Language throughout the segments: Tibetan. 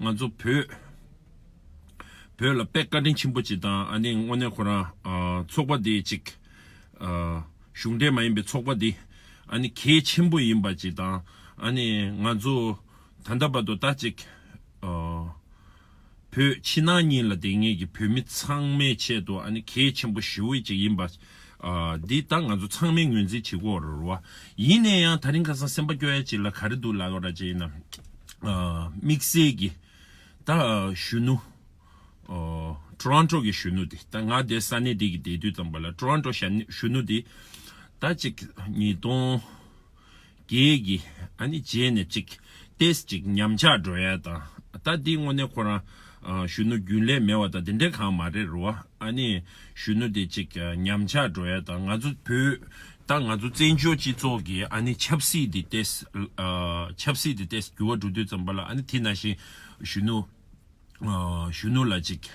ང་ཚོ་བོད། བོད་ལ་དཔེ་བཀའ་དྲིན་ཆེན་པོ་བྱེད་དང་ཨ་ནེ་དངོས་གནས་ཁོ་རང་ཚོགས་པ་དེ་ཅིག། གཞུང་འབྲེལ་མ་ཡིན་པའི་ཚོགས་པ་དེ་ཨ་ནེ་གལ་ཆེན་པོ་ཡིན་པ་བྱེད་དང་ཨ་ནེ་ང་ཚོ་ད་ལྟ་བར་དུ་ད་ཅིག། བོད་ཕྱི་ནང་གཉིས་ལ་དེ་ངེས་ཀྱི་བོད་མི་ཚང་མའི་ཆེད་དུ་ཨ་ནེ་གལ་ཆེན་པོ་ཞི་བོ་ཅིག་ཡིན་པ། འདི་ད་ང་ཚོ་ཚང་མས་ངོས་འཛིན་བྱེད་དགོས་བ་རོ་རོ་བ། ཡིན་ནས་ཡང་ད་རིང་ཁ་སང་སེམས་པ་སྐྱོ་ཡ་ཅིག་ལ་ག་རེ་འདུག་ལགས་ར་ཅིག་ཡིན་ནམ། དམིགས་བསལ་གྱི་ད་གཞོན་ནུ། Toronto གྱི་གཞོན་ནུ་དེ་ད་ང་བསྡད་ས་གནས་འདི་གི་བསྡད་དུས་ཙམ་པ་ལ Toronto གཞོན་ནུ་དེ་ད་ཅིག་ཉིས་སྟོང། གྱིས་གྱིས། ཨ་ནི་རྗེས་ནས་ཅིག། ཏེས་ཅིག་ཉམས་ཆག་འགྲོ་ཡ་དང། ད་འདི་དངོས་གནས་ཁོ་རང། གཞོན་ནུ་རྒྱུན་ལས་མེད་བ་དང་དེ་འདྲས་གང་མ་རེད་རུ་བ། ཨ་ནི། གཞོན་ནུ་དེ་ཅིག་ཉམས་ཆག་འགྲོ་ཡ་དང་ང་ཚོ་བོད། ད་ང་ཚོ་བཙན་བྱོལ་སྤྱི་ཚོགས་ཀྱི་ཨ་ནི་ཆབ་སྲིད་དེ་ཏེས། ཆབ་སྲིད་དེ་ཏེས་འགྱུར་བ་འགྲོ་དུས་ཙམ་པ་ལ་ཨ་ནི་དེ་ན་བཞིན། གཞོན་ནུ། གཞོན་ནུ་ལ་ཅིག།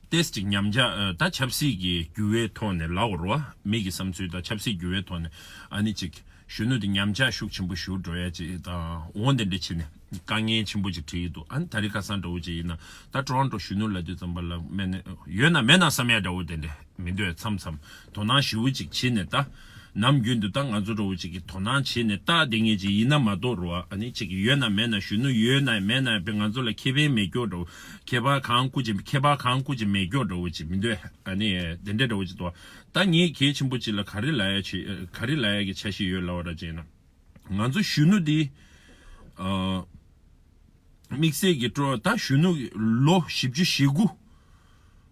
ཏེས་ཀྱི་ཉམས་ཆག་དང་ཆབ་སྲིད་ཀྱི་འགྱུར་བའི་ཐོག་ནས་ལ་ཝར་བ་མིག་གི་བསམ་ཚུལ་དང་ཆབ་སྲིད་འགྱུར་བའི་ཐོག་ནས་ཨ་ནི་ཅིག་གཞོན་ནུ་དེ་ཉམས་ཆག་ཤུགས་ཆེན་པོ་ཞུགས་འགྲོ་ཡ་ཅིག་དང་འོང་དེ་འདྲ་བྱེད་ནས་དཀའ་ངལ་ཆེན་པོ་ཅིག་བྲིས་ཡོད་འདུག་ཨ་ནི་ད་རི་ཁ་སང་འདྲ་བོ་ཅིག་ཡིན་ན་ད་ཀྲོ་ཨན་ཀྲོ་གཞོན་ནུ་ལ་དུས་ཙམ་པ་ལ་མེད་ནས་ཡོད་ན་མེད་ན་བསམ་ཡ་འདྲ་བོ་དེ་འདྲ་མི་འདོད་མཚམས་མཚམས་དོ་སྣང་ཞི་བོ་ཅིག་བྱེད་ནས་ད་ནམ་རྒྱུན་དུ་ད་ང་ཚོ་འདྲ་བོ་ཅིག་གི་དོ་སྣང་བྱེད་ནས་ད་དེ་ངེས་ཅིག་ཡིན་ན་མ་གཏོགས་རོ་ཨ་ནི་ཅིག་ཡོད་ན་མེད་ན་གཞོན་ནུ་ཡོད་ན་མེད་ན་པའི་ང་ཚོ་ལ་ཁེ་ཕན་མེད་སྐྱོ་འདྲ་བོ་ཁྱད་པར་གང་སྐུ་ཅི་ཁྱད་པར་གང་སྐུ་ཅི་མེད་མགྱོགས་འདྲ་བོ་ཅི་མི་འདོད་ཨ་ནི་དེ་འདྲ་འདྲ་བོ་ཅི་དོ། ད་ངས་གལ་ཆེན་པོ་ཅི་ལ་ག་རི་ལ་ཡ་ཆི་ག་རི་ལ་ཡ་གི་ཆ་ཤི་ཡོད་ལབ་བ་ར་ཅན་ན། ང་ཚོ་གཞོན་ནུ་འདི། དམིགས་བསལ་གི་སྤྲོ་ད་གཞོན་ནུ་ལོ་བཞི་བཅུ་ཞེ་དགུ།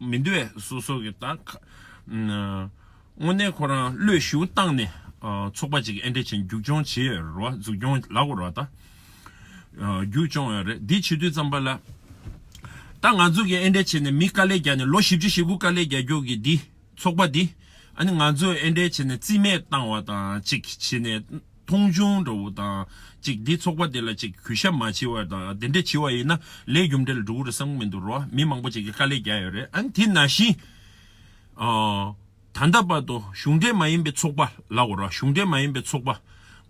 མི་འདོད་སོ་སོ་གི་དང། དངོས་གནས་ཁོ་རང་བློས་ཞུ་བཏང་ནས་ཚོགས་པ་ཅིག་ཨེ་འདྲེ་ཆེན་རྒྱུགས་སྐྱོང་བྱེད་རོ་བ་འཛུགས་སྐྱོང་ལག་རོ་བ་ད་རྒྱུགས་སྐྱོང་ཡོད་རེད་འདི་བྱེད་དུས་ཙམ་པ་ལ། ད་ང་ཚོ་གི་ཨེ་འདྲེ་ཆེན་ནས་མི་དཀའ་ལས་རྒྱག་ནས་ལོ་བཞི་བཅུ་ཞེ་དགུ་དཀའ་ལས་རྒྱག་རྒྱུགས་གི་འདི་ཚོགས་པ་འདི་ཨ་ནི་ང་ཚོ་ཨེ་འདྲེ་ཆེན་ནས་རྩིས་མེད་བཏང་བ་དང་ཅིག་བྱེད་ནས། མཐོང་ཆུང་འདྲ་བོ་དང་ཅིག་འདི་ཚོགས་པ་འདི་ལ་ཅིག་གུས་ཞབས་མ་བྱེད་བར་དང་དེ་འདྲ་བྱེད་བ་ཡིན་ན་ལས་རྒྱུ་འབྲས་ལ་འགྲོ་གི་རེད་བསམ་གི་མི་འདུག་རོ་མི་མང་པོ་ཅིག་གིས་དཀའ་ལས་རྒྱག་ཡོད་རེད་ཨང་དེ་ན་བཞིན་ད་ལྟ་བར་དུ་གཞུང་འབྲེལ་མ་ཡིན་པའི་ཚོགས་པ་ལགས་རོ་གཞུང་འབྲེལ་མ་ཡིན་པའི་ཚོགས་པ་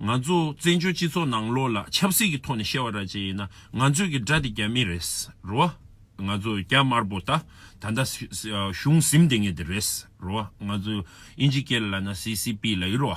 ང་ཚོ་བཙན་བྱོལ་སྤྱི་ཚོགས་ནང་ལོགས་ལ་ཆབ་སྲིད་ཀྱི་ཐོག་ནས་བཤད་བ་ར་བྱེད་ཡིན་ན་ང་ཚོས་ཀྱི་དགྲ་དེ་རྒྱ་མི་རེད་རོ་ང་ཚོ་རྒྱ་དམར་པོ་དག་ད་ལྟ་གཞུང་གཟིམ་དེ་ངེས་དེ་རེད་རོ་ང་ཚོ་ཨིན་ཇི་སྐད་ལ་ན་སི་སི་པི་ལ་ཡིན་རོ།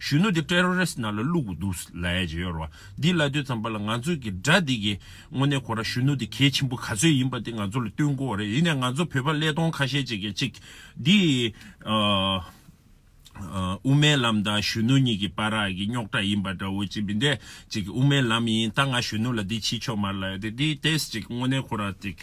གཞོན་ནུ་དེ Terrorist ནང་ལ་བླུགས་པ་འདུག་ལ་ཡ་ཇི་ཡོད་རོ། འདི་ལ་དོས་ཙམ་པ་ལ་ང་ཚོས་ཀྱི་སྒྲ་འདི་གི་དངོས་གནས་ཁོ་ར་གཞོན་ནུ་དེ་གལ་ཆེན་པོ་ག་ཚོད་ཡིན་པ་དེ་ང་ཚོ་ལ་སྟོན་དགོས་བ་རེད་ཡིན་ནས་ང་ཚོ་བོད་པ་ཀླད་སྟོང་ཁ་ཤས་ཅིག་གིས་ཅིག་འདི་དབུ་མའི་ལམ་དང་གཞོན་ནུ་གཉིས་ཀྱི་པ་ར་གི་རྙོག་དྲ་ཡིན་པ་འདྲ་བོ་ཅིག་མི་འདེད་ཅིག་དབུ་མའི་ལམ་ཡིན་ད་ང་གཞོན་ནུ་ལ་འདི་ཕྱིས་ཆོག་མར་ལ་ཡ་དེ་འདི་ཏེས་ཅིག་དངོས་གནས་ཁོ་ར་ཅིག།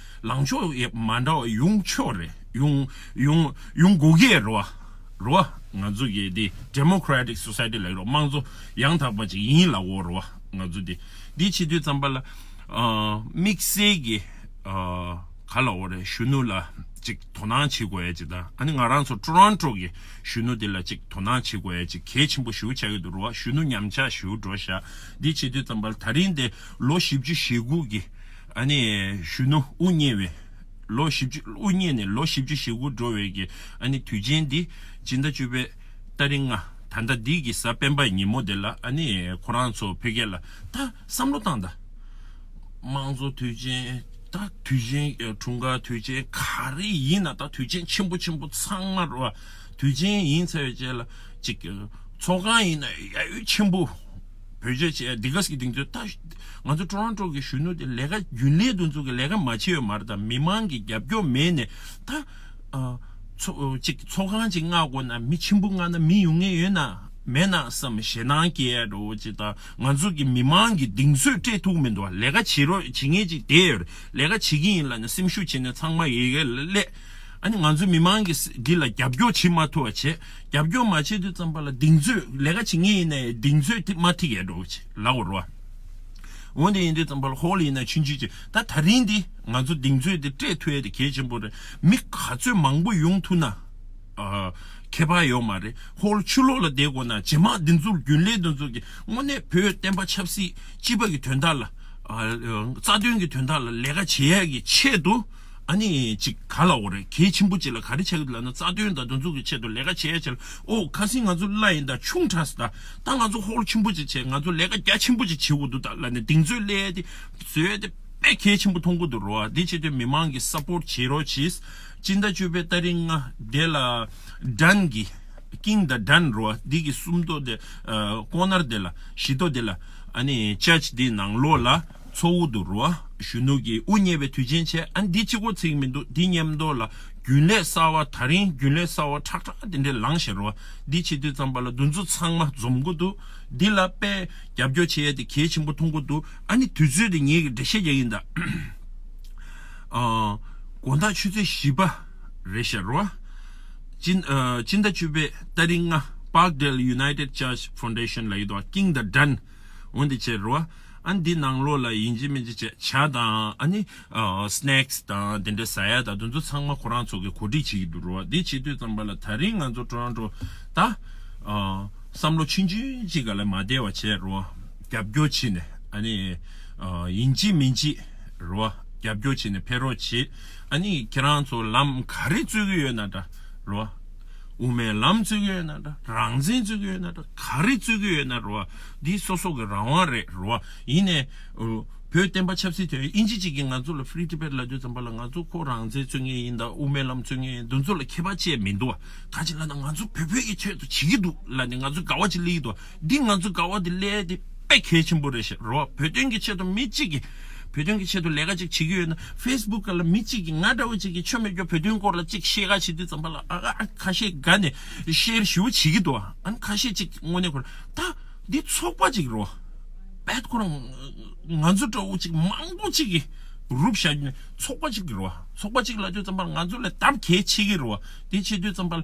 ལངས་ཕྱོགས་ཡབ་མ་འདྲ་བ་ཡོང་ཆོག་རེད་ཡོང་ཡོང་ཡོང་དགོས་ཀྱི་རེད་བ་རེད་བ་ང་ཚོ་གི་འདི Democratic Society ལགས་རོགས་དམངས་གཙོ་ཡང་དག་པ་ཅིག་ཡིན་ལ་བོ་རེད་བ་ང་ཚོ་འདི་འདི་ཕྱི་དུས་ཙམ་པ་ལ་དམིགས་བསལ་གི་ག་ལ་བོ་རེད་གཞོན་ནུ་ལ་ཅིག་དོ་སྣང་བྱེད་དགོས་ཡ་ཅིག་དང་ཨ་ནི་ང་རང་ཚོ Toronto གི་གཞོན་ནུ་འདི་ལ་ཅིག་དོ་སྣང་བྱེད་དགོས་ཡ་ཅིག་གལ་ཆེན་པོ་ཞུ་བྱ་གི་འདུག་རེད་བ་གཞོན་ནུ་ཉམས་ཆགས་ཞུ་འགྲོ་བཞག་འདི་ཕྱི་དུས་ཙམ་པ་ལ་ད་རིང་འདི་ལོ་བཞི་བཅུ་ཞེ་དགུ་གི། ཨ་ནི་གཞོན་ནུ་དབུ་བརྙེས་བའི་ལོ་བཞི་བཅུ་དབུ་བརྙེས་ནས་ལོ་བཞི་བཅུ་ཞེ་དགུ་འགྲོ་བའི་གི་ཨ་ནི་དུས་ཆེན་འདི་སྤྱི་ཟླ་བཅུ་པའི་སྟ་རེ་ལྔ་ད་ཟླ་འདི་གི་གཟའ་སྤེན་པའི་ཉིན་མོ་དེ་ལ་ཨ་ནི་ཁོ་རང་ཚོ་ཕེ་གེ་ལ་ད་བསམ་བློ་བཏང་ད་དམངས་གཙོ་དུས་ཆེན་ད་དུས་ཆེན་དྲུང་དཀར་དུས་ཆེན་ག་རེ་ཡིན་ན་ད་དུས་ཆེན་ཆེན་པོ་ཆེན་པོ་ཚང་མ་རོ་དུས་ཆེན་ཡིན་ཚེ་བཅས་ལ་ཅིག་ཚོགས་ཁང་ཡིན་ན་ཡ་ཡོད་ཆེན་པོ། བོད་རྒྱ་ཆེ་སྡེ་ཁག་གི་སྡིངས་ཚོད་ལྟ། ང་ཚོ་ཀྲོ་རོན་ཀྲོ་གི་གཞོན་ནུ་དེ་ལས་ཀ་རྒྱུན་ལས་འདུ་འཛོག་གི་ལས་ཀ་མ་བྱེད་ཡོད་མར་དང་མི་མང་གི་རྒྱབ་སྐྱོར་མེད་ནས་ད། ཅིག་ཚོགས་ཁང་གཅིག་མངག་དགོས་ན་མི་ཆེན་པོ་མངག་ན་མི་ཡོང་ངེས་ཡོད་ན་མེད་ན་བསམ་ཞེ་སྡང་སྐྱེས་རོ་ཅིག་ད་ང་ཚོ་གི་མི་མང་གི་སྡིངས་ཚོད་སྤྲད་ཐུག་མི་འདུག་ལས་ཀ་བྱེད་རོགས་བྱེད་ངེས་ཅིག་དེ་ཡོད་ལས་ཀ་བྱེད་ཀྱི་ཡིན་ལ་ནི་སེམས་ཤུགས་བྱེད་ནས་ཚང་མ་ཡི་གེ་ལས། ཨ་ནི་ང་ཚོ་མི་མང་གི་འདི་ལ་རྒྱབ་སྐྱོར་བྱེད་མ་ཐུབ་བ་བྱེད། རྒྱབ་སྐྱོར་མ་བྱེད་དུས་ཙམ་པ་ལ་གདེང་ཚོད་ལས་ཀ་བྱེད་ངེས་ཡིན་ནའི་གདེང་ཚོད་ཐིག་མ་ཐིག་ཡས་འགྲོ་གི་བྱེད་ལ་བོར་བ། འོན་ཏེ་ཡིན་དུས་ཙམ་པ་ལ་ཧོལ་ཡིན་ནའི་ཕྱིན་ཅི་བྱེད་ད་ད་རིང་འདི་ང་ཚོ་གདེང་ཚོད་དེ་སྤྲད་ཐུ་ཡས་དེ་གལ་ཆེན་པོ་རེད་མི་ག་ཚོད་མང་པོ་ཡོང་ཐུ་ན་ཁྱད་པ་ཡོད་མ་རེད་ཧོལ་ཆུ་ལོག་ལ་བསྡད་དགོས་ན་ཇེ་མང་འདི་ཚོར་རྒྱུན་ལས་འདི་ཚོ་གི་དངོས་གནས་བོད་བསྟན་པ་ཆབ་སྲིད་སྤྱི་པ་གི་དོན་དག་ལ་རྩ་དོན་གི་དོན་དག་ལ་ལས་ཀ་བྱེད་ཡས་ཀྱི་ཆེད་དུ། ཨ་ནི་ཅིག་ག་ལ་འོ་རེད་གལ་ཆེན་པོ་ཅིག་ལ་ག་རེ་བྱ་གི་འདུག་ལབ་ན་རྩ་དོན་དང་སྡོན་འཛུགས་ཀྱི་ཆེད་དུ་ལས་ཀ་བྱས་ཡ་བྱས་ལ་ཨོ་ཁ་སིང་ང་ཚོ་བླ་ཡིན་ད་ཆུང་གྲགས་སི་ད་ད་ང་ཚོ་ཧོལ་ཆེན་པོ་ཅིག་བྱས་ང་ཚོ་ལས་ཀ་རྒྱ་ཆེན་པོ་ཅིག་བྱེད་འོ་འདུག་ད་ལ་ནི་དིང་ཚོས་བསླད་དེ་བཟོས་དེ་དཔེ་གལ་ཆེན་པོ་མཐོང་གི་འདུག་རོ་དེ་བྱེད་དུས་མི་མང་གིས support བྱེད་རོགས་གྱིས་སྤྱི་ཟླ་བཅུ་པའི་ལྟ་རིང་ང་དེ་ལ་དྲན་གི་ཀིང་ད་དྲན་རོ་དེ་གི་སུམ་ཐོག་དེ་ཀོ་ནར་དེ་ལ་བཞི་ཐོག་དེ་ལ་ཨ་ནི church དེ་ནང་ལོགས་ལ། མཚོ་དབུས་དུ་རུ་གཞོན་ནུ་ཀྱིས་དབུ་བརྙེས་པའི་དུས་ཆེན་ཆེ་ཨ་འདི་ཅི་གོ་ཚིག་མི་འདུག་འདི་སྙེམས་མདོག་ལ་རྒྱུན་ལས་གསར་བ་ད་རིང་རྒྱུན་ལས་གསར་བ་ཁྲག་ཁྲག་དེ་འདྲས་ལངས་བཞིན་རུ་འདི་ཕྱི་དུས་ཙམ་པ་ལ་འདུ་འཛོ་ཚང་མ་འཛོམས་གོ་འདུག་འདི་ལ་དཔེ་རྒྱབ་སྐྱོར་བྱེད་ཡ་དེ་གལ་ཆེན་པོ་མཐོང་གོ་འདུག་ཨ་ནི་དུས་ཚོད་དེ་ངེད་ཀྱི་འགྲེལ་བཤད་རྒྱག་ཡིན་ད། དགོན་བདག་ཆུ་ཚོད་བཞི་པ་རེད་བཤད་རུ་སྤྱི་ཟླ་བཅུ་པའི་ལྟ་རིགས་ལྔ Parkdale United Church Foundation ལ་ཡོད་དོ King the Dun། འོན་ཏེ་ཁྱེད་རོ། ཨ་འདི་ནང་ལོགས་ལ་ཡིན་གྱི་མིན་གྱི་བྱ་བྱ་དང་ཨ་ནི། Snacks དང་དེ་འདྲའི་ཟ་ཡ་དང་དེ་ཚོ་ཚང་མ་ཁོ་རང་ཚོ་གི་གོ་སྒྲིག་བྱེད་ཀྱི་འདུག་རོ་འདི་བྱེད་དུས་ཙམ་པ་ལ་ད་རིང་ང་ཚོ་ཀྲོ་རང་ཀྲོ་ད། བསམ་བློ་ཆུན་ཆུན་གཅིག་ག་ལ་མ་བདེ་བ་བྱེད་རོ། རྒྱབ་སྐྱོར་བྱེད་ནས་ཨ་ནི། ཡིན་གྱི་མིན་གྱི་རོ། རྒྱབ་སྐྱོར་བྱེད་ནས་ཕེ་རོགས་བྱེད་ཨ་ནི་ཁྱེད་རང་ཚོ་ལམ་ག་རེ་རྩོད་ཀྱི་ཡོད་ན་འདྲ་རོ། དབུ་མའི་ལམ་བརྩི་གི་ཡོད་ན་འདྲ་རང་བཙན་བརྩི་གི་ཡོད་ན་འདྲ་ག་རེ་བརྩི་གི་ཡོད་ན་རེད་འདི་སོ་སོ་གི་རང་དབང་རེད་རེད་ཡིན་ནས་བོད་བསྟན་པ་ཆབ་སྲིད་དོན་ཨིན་ཇི་གཅིག་གིས་ང་ཚོ་ལ Free Tibet ལབ་རྒྱུ་ཙམ་པ་ལ་ང་ཚོ་ཁོ་རང་བཙན་བརྩི་ངེས་ཡིན་དང་དབུ་མའི་ལམ་བརྩི་ངེས་ཡིན་འདི་ཚོ་ལ་ཁྱད་པར་ཅེས་མི་འདུག་ག་ཅིག་ལ་ན་ང་ཚོ་བོད་བོད་ཀྱི་ཆེད་དུ་བྱེད་ཀྱི་འདུག་ལ་ནི་ང་ཚོ་དགའ་བ་ཅིག་གླེང་གི་འདུག་འདི་ང་ཚོའི་དགའ་བ་དེ་ལས་དེ་དཔེ་གལ་ཆེན་པོ་རེད་ཞེས་རོ་བོད་དོན་གྱི་ཆེད་དུ་མི་གཅིག་གིས་བོད་དོན་གྱི་ཆེད་དུ་ལས་ཀ་ཅིག་བྱེད་ཀྱི་ཡོད་ན Facebook ལ་མི་གཅིག་གིས་ང་འདྲ་བོ་ཅིག་གིས་ཆོ་མེད་ཀྱོ་བོད་དོན་སྐོར་ལ་ཅིག་བཤད་ག་བྱེད་དུས་ཙམ་པ་ལ་ཨ་ཨ་ཁ་ཤས་དགའ་ནས Share ཞུ་བ་བྱེད་ཀྱི་འདུག་ཨང་ཁ་ཤས་ཅིག་དངོས་གནས་ཁོ་ར་ད་འདི་ཚོགས་པ་ཅིག་རོ་བད་ཁོ་ར་ང་ཚོ་འདྲ་བོ་ཅིག་མང་པོ་ཅིག་གིས་རུབ་བཞག་གི་ནས་ཚོགས་པ་ཅིག་རོ་ཚོགས་པ་ཅིག་ལ་དུས་ཙམ་པ་ལ་ང་ཚོ་ལ་དམ་གལ་ཆེ་གི་རོ་དེ་བྱེད་དུས་ཙམ་པ་ལ།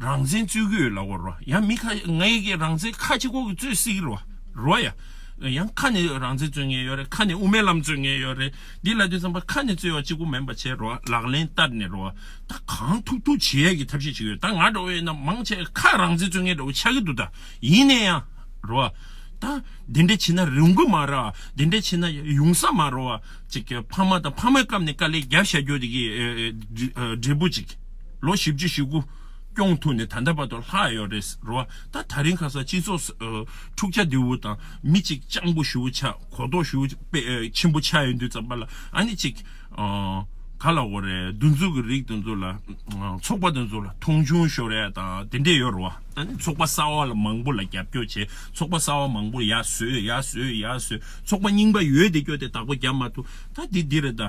རང་བཙན་རྩོད་གི་ཡོད་ལ་བོར་བ་ཡང་མི་ཁ་ང་ཡི་གི་རང་བཙན་ཁ་ཆེ་ཁོག་གི་རྩོད་སྲིད་གི་རོ་རོ་ཡ་ཡང་ཁ་ནས་རང་བཙན་རྩོད་ངེས་ཡོད་རེད་ཁ་ནས་དབུ་མའི་ལམ་རྩོད་ངེས་ཡོད་རེད་འདི་ལ་དུས་ཚང་པ་ཁ་ནས་རྩོད་ཡོད་ཅིག་པོ་མེད་པ་བྱས་རོ་ལག་ལེན་བསྟར་ནས་རོ་ད་གང་ཐུབ་ཐུབ་བྱེད་ཡ་གི་ཐབས་ཤེས་ཅིག་ཡོད་ད་ང་འདྲ་བོ་ཡིན་ན་མང་ཆེ་ཁ་རང་བཙན་རྩོད་ངེས་འདྲ་བོ་ཆགས་གི་འདུག་ད་ཡིན་ནས་ཡང་རོ་ད་འདི་འདྲ་བྱེད་ན་རུང་གི་མ་ར་འདི་འདྲ་བྱེད་ན་ཡོང་ས་མ་རོ་བ་ཅིག་ཕ་མ་དང་ཕ་མའི་སྐབས་ནས་དཀའ་ལས་རྒྱབ་བཞག་རྒྱུ་འདི་གི་འབྲས་བུ་ཅིག། ལོ་བཞི་བཅུ་ཞེ་དགུ་སྐྱོང་ཐུབ་ནས་ད་ལྟ་བར་དུ་ལྷག་ཡོད་རེད་ཟེར་བ་ད་ད་རིང་ཁ་སང་སྤྱི་ཚོགས་འཁྲུག་ཆ་དེའུ་དང་མི་གཅིག་སྤྱང་པོ་ཞུ་བོ་ཆ་གོ་ལྡོག་ཞུ་བོ་ཆེན་པོ་ཆགས་ཡོད་འདུག་ཙམ་པ་ལ་ཨ་ནི་ཅིག་ག་ལ་འོ་རེད་འདུ་འཛོ་གི་རིགས་འདུ་འཛོ་ལ་ཚོགས་པ་འདུ་འཛོ་ལ་མཐོང་ཆུང་ཤོར་ཡ་དང་དེ་འདྲས་ཡོད་རེད་བ་ད་ནི་ཚོགས་པ་གསར་བ་ལ་མང་པོ་ལ་རྒྱབ་སྐྱོར་བྱས་ཚོགས་པ་གསར་བ་མང་པོར་ཡ་བཟོས་ཡ་བཟོས་ཡ་བཟོས་ཚོགས་པ་རྙིང་པ་ཡོད་དེ་སྐྱོ་དེ་དག་པོ་རྒྱབ་མ་ཐུབ་ད་འདི་འདི་རེད་ད།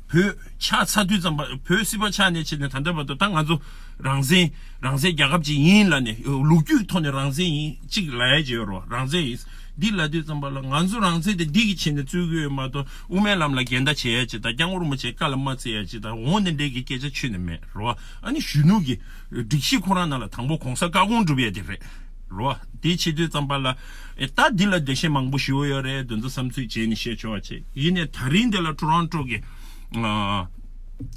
བོད་ཆགས་ཚ་དུས་ཙམ་བོད་སྲིད་པ་ཆགས་ནས་ཕྱིན་ནས་ད་ལྟ་བར་དུ་ད་ང་ཚོ་རང་བཙན་རང་བཙན་རྒྱལ་ཁབ་ཅིག་ཡིན་ལ་ནས་ལུགས་རྒྱུད་ཐོག་ནས་རང་བཙན་ཡིན་གཅིག་ལ་ཡ་བྱེད་རོགས་རང་བཙན་ཡིན་འདི་ལ་དུས་ཙམ་པ་ལ་ང་ཚོ་རང་བཙན་དེ་འདི་གི་ཆེད་ནས་རྩོད་གི་ཡོད་མ་གཏོགས་དབུ་མའི་ལམ་ལ་འགལ་ཟླ་བྱེད་ཡ་བྱེད་དང་རྐྱང་ངོར་མོ་བྱེད་ཀ་ལ་མ་བརྩི་ཡ་བྱེད་དང་འོང་ནས་འདྲེ་གི་སྐད་ཆ་ཆུད་ནས་མེད་རོགས་ཨ་ནི་གཞོན་ནུ་གི་སྒྲིག་གཞི་ཁོ་རང་ནང་ལ་དང་པོ་གོང་ས་བཀའ་དགོངས་སྒྲུབ་ཡ་དེ་རེད། རོ། དེའི་ཕྱི་དྲོའི་རྩམ་པ་ལ། ཨེ་ད་འདི་ལ་བདེ་གཤེགས་མང་པོ་ཞུ་ཡོད་རེད་འདོན་ཚོ་བསམ་ཚུལ་བྱས་ནས་བཤད་ཆོག་ཅེས་ཡིན་ནས་ད་རིང་འདི་ལ Toronto གི་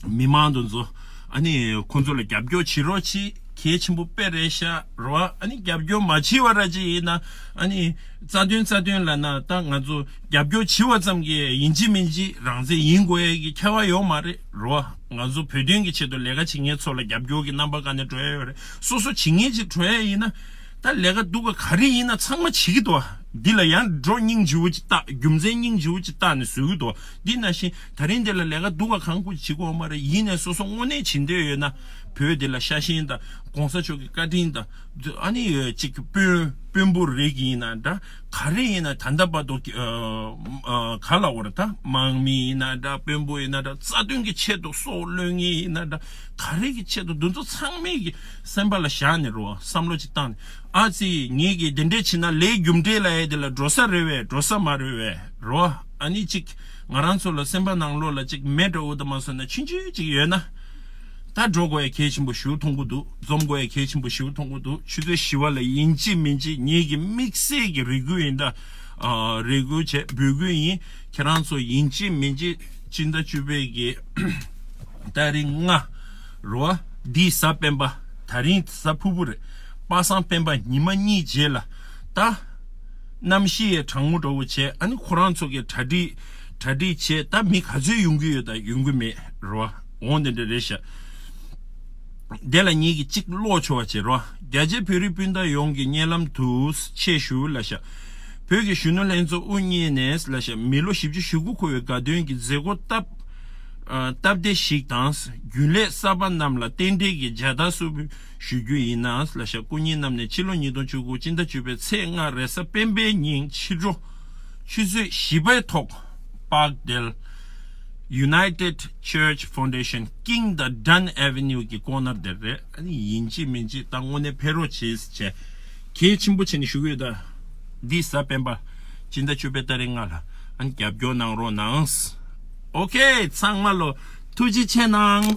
མི་མང་འདོན་ཚོ་ཨ་ནི་ཁོང་ཚོ་ལ་རྒྱབ་སྐྱོར་བྱེད་རོགས་གྱིས་གལ་ཆེན་པོ་པེ་རེད་ཤག་རོ་ཨ་ནི་རྒྱབ་སྐྱོར་མ་བྱེད་བ་ར་ཅིག་ཡིན་ན་ཨ་ནི་རྩ་དོན་རྩ་དོན་ལ་ན་ད་ང་ཚོ་རྒྱབ་སྐྱོར་བྱེད་བ་ཙམ་གྱིས་ཡིན་གཅིག་མིན་གཅིག་རང་བཙན་ཡིན་དགོས་ཡ་གི་ཁྱད་བ་ཡོག་མ་རེད་རོ་ང་ཚོ་བོད་དོན་གྱི་ཆེད་དུ་ལས་ཀ་བྱེད་མཁན་ཚོ་ལ་རྒྱབ་སྐྱོར་གྱི་རྣམ་པ་ག་ནས་སྤྲོད་ཡ་ཡོད་རེད། སོ་སོ་བྱེད་ངེས་ཅིག་གྲོལ་ཡ་ཡིན་ན། ད་ལས་ཀ་འདུག་ག་ག་རེ་ཡིན་ན་ཚང་མ་བྱེད་ཀྱི་འདུག་ག། འདི་ལ་ཡང་འགྲོ་སྙིང་རྗེ་བོ་ཅིག་བཏགས་རྒྱུ་མཚན་སྙིང་རྗེ་བོ་ཅིག་བཏགས་ནས་བཟོས་ཀྱི་འདུག་འདི་ན་བཞིན་ད་རིང་འདི་ལ་ལས་ཀ་འདུག་ག་གང་དགོས་བྱེད་དགོས་མ་རེད་ཡིན་ནས་སོ་སོ་དངོས་གནས་བྱེད་འདོད་ཡོད་ན། བོད་འདི་ལ་ཤ་ཞེན་དང་གོང་ས་མཆོག་གི་བཀའ་དྲིན་དང། ཨ་ནི་ཡོད་ཅིག་དཔོན་དཔོན་པོར་རེག་གི་ཡིན་ན་འདྲ། ག་རེ་ཡིན་ན་ད་ལྟ་བར་དུ་ག་ལ་བར་ད་དམག་མི་ཡིན་ན་འདྲ་དཔོན་པོ་ཡིན་ན་འདྲ་རྩ་དོན་གྱི་ཆེད་དུ་སྲོག་བློས་ངེས་ཡིན་ན་འདྲ། ག་རེ་གི་ཆེད་དུ་འདི་ཚོ་ཚང་མས་ཀྱི་སེམས་པ་ལ་བཞག་ནས་རོགས་བསམ་བློ་ཅིག་བཏང་ནས་ཨ་ཙི་ངེད་ཀྱིས་འདི་འདྲས་བྱས་ན་ལས་རྒྱུ་འབྲས་ལ་ཡས་དེ་ལ་འགྲོ་ས་རེད་བས་འགྲོ་ས་མ་རེད་བས་རོགས་ཨ་ནི་ཅིག་ང་རང་ཚོ་ལ་སེམས་པ་ནང་ལོགས་ལ་ཅིག་མེད་འདྲ་འུ་ད་མ་སོན་ན་ཕྱིན་ཆོད་ཅིག་ཡོད་ན་ད་འགྲོ་དགོས་ཡས་གལ་ཆེན་པོ་ཞུ་ཐོང་གུ་འདུག་འཛོམས་དགོས་ཡས་གལ་ཆེན་པོ་ཞུ་ཐོང་གུ་འདུག་ཆུ་ཚོད་བཞི་བ་ལ་ཡིན་ཅི་མིན་ཅི་ངེད་ཀྱི་དམིགས་བསལ་གྱི་རེ་སྐུལ་ཡིན་ད་རེ་སྐུལ་བྱས་འབོད་སྐུལ་ཡིན་ཁྱེད་རང་ཚོ་ཡིན་ཅི་མིན་ཅི། སྤྱི་ཟླ་བཅུ་པའི་གེ་སྟག་རིགས་ལྔ། རོ་ཨ། འདིའི་གཟའ་སྤེན་པ་ད་རིང་གཟའ་ཕུར་བུ་རེད། པ་སངས་སྤེན་པ་ཉི་མ་གཉིས་རྗེས་ལ་ད། རྣམ་ཤེས་ཡས་དྲང་མོ་འགྲོ་བོ་བྱས་ཨ་ནི་ཁོ་རང་ཚོ་གེ་གྲ་འགྲིག་གྲ་འགྲིག་བྱས་ད་མི་ག་ཚོད་ཡོང་གི་ཡོད་ད་ཡོང་གི་མེད་རོ་ཨ་འོང་དེ་འདྲ་རེད་ཤག། དེ་ལ་ཉིད་ཀྱི་གཅིག་ཀློག་ཆོག་བ་བྱེད་རོ་ཨ་རྒྱ་ཆེ་བོད་རིགས་སྤུན་ཟླ་ཡོངས་ཀྱི་སྙན་ལམ་དུ་ཆེ་ཞུ་ལ་ཤག། བོད་ཀྱི་གཞོན་ནུ་ལྷན་ཚོགས་དབུ་བརྙེས་ནས་སླད་ཞག་མི་ལོ་བཞི་བཅུ་ཞེ་དགུ་འཁོར་བའི་དགའ་སྟོན་གྱི་མཛད་སྒོ་སྟབས་བདེ་ཞིག་དང་རྒྱུན་ལས་གསར་པ་རྣམས་ལ་རྟེན་འབྲེལ་གྱི་མཇལ་དར་གསོལ་བུ་ཞུ་རྒྱུ་ཡིན། སླད་ཞག་སྐུ་ཉིད་རྣམས་ནས་ཕྱི་ལོ་ཉིས་སྟོང་བཅུ་དགུ་སྤྱི་ཟླ་བཅུ་པའི་ཚེས་ལྔ་རེས་གཟའ་སྤེན་པའི་ཉིན་ཕྱི་དྲོ་ཆུ་ཚོད་བཞི་པའི་ཐོག Parkdale United Church Foundation King དང Dunn Avenue གྱི་ཀོ་ནར་དེར་རེད། ཡིན་གཅིག་མིན་གཅིག་ད་དངོས་གནས་ཕེ་རོ་ཆེས་བྱས། ཁྱེད་ཕྱིན་པོ་ཆེ་ནས་བཞུགས་ཡོད་ད། འདི་གཟའ་སྤེན་པ་སྤྱི་ཟླ་བཅུ་པའི་སྟ་རེ་ལྔ་ལ་ཨང་རྒྱབ་སྐྱོར་གནང་རོགས་གནང། ཨོ་ཁེ་ཚང་མ་ལོ་ཐུགས་རྗེ་ཆེ་གནང།